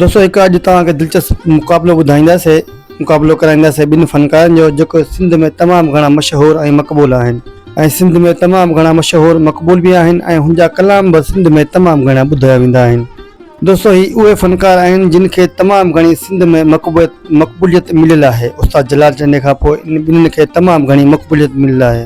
دوستو هڪ اڄ توهان کي دلچسپ مقابلو ٻڌائينداسي مقابلو ڪرائينداسي ٻن فنڪارن جو جيڪو سنڌ ۾ تمام گهڻا مشهور ۽ مقبول آهن ۽ سنڌ ۾ تمام گهڻا مشهور مقبول به آهن ۽ هن جا ڪلام به سنڌ ۾ تمام گهڻا ٻڌايا ويندا آهن دوستو هي اهي فنڪار آهن جن کي تمام گهڻي سنڌ ۾ مقبوليت مقبوليت مليل آهي استاد جلال چنڊي کان پوء انهن ٻنهن کي تمام گهڻي مقبوليت مليل آهي.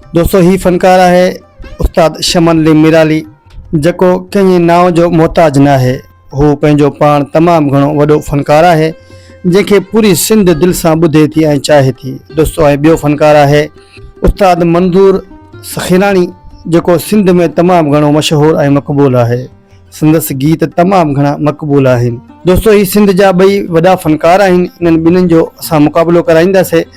دوستو هي فنڪار آهي استاد شمن علي ميرالي جيڪو ڪنهن نانء جو محتاج ناهي هو پنهنجو پاڻ تمام گهڻو وڏو فنڪار آهي جنهن کي پوري سنڌ دل سان ٻڌي ٿي ۽ چاهي ٿي دوستو ۽ ٻيو فنڪار آهي استاد منظور سخيراڻي جيڪو سنڌ ۾ تمام گهڻو مشهور ۽ مقبول آهي سندس گيت تمام گهڻا مقبول آهن دوستو هي سنڌ جا ٻئي وڏا فنڪار آهن انهن ٻنهي جو اسان مقابلو ڪرائينداسين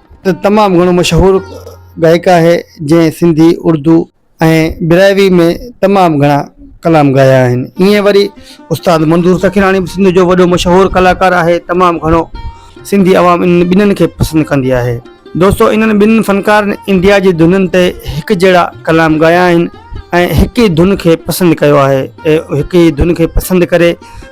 ته تمام گهڻو مشهور گائڪ آهي جنهن سنڌي، اردو ۽ براهوي ۾ تمام گهڻا ڪلام ڳايا آهن. ايئن وري استاد منظور سکيراڻي به سنڌ جو وڏو مشهور ڪلاڪار آهي تمام گهڻو سنڌي عوام انهن ٻنهن کي پسند ڪندي آهي. دوستو انهن ٻنهن فنڪارن انڊيا جي ڌنن تي هڪ جهڙا ڪلام ڳايا آهن ۽ هڪ ئي ڌن کي پسند ڪيو آهي ۽ هڪ ئي ڌن کي پسند ڪري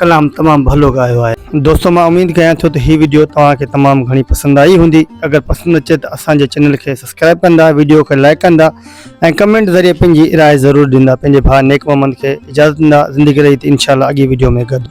ڪلام تمام ڀلو ڳايو آهي. دوستو مان اميد ڪيان ٿو ته هي وڊيو توهان کي تمام گهڻي پسند آئي هوندي اگر پسند اچي ته اسان جي چينل کي سبسڪرائب ڪندا وڊيو کي لائيڪ ڪندا ۽ ڪمينٽ ذريعي پنهنجي راء ضرور ڏيندا پنهنجي ڀاء نيڪ محمد کي اجازت ڏيندا زندگي رهي ته انشاء الله اڳي وڊيو ۾ گڏ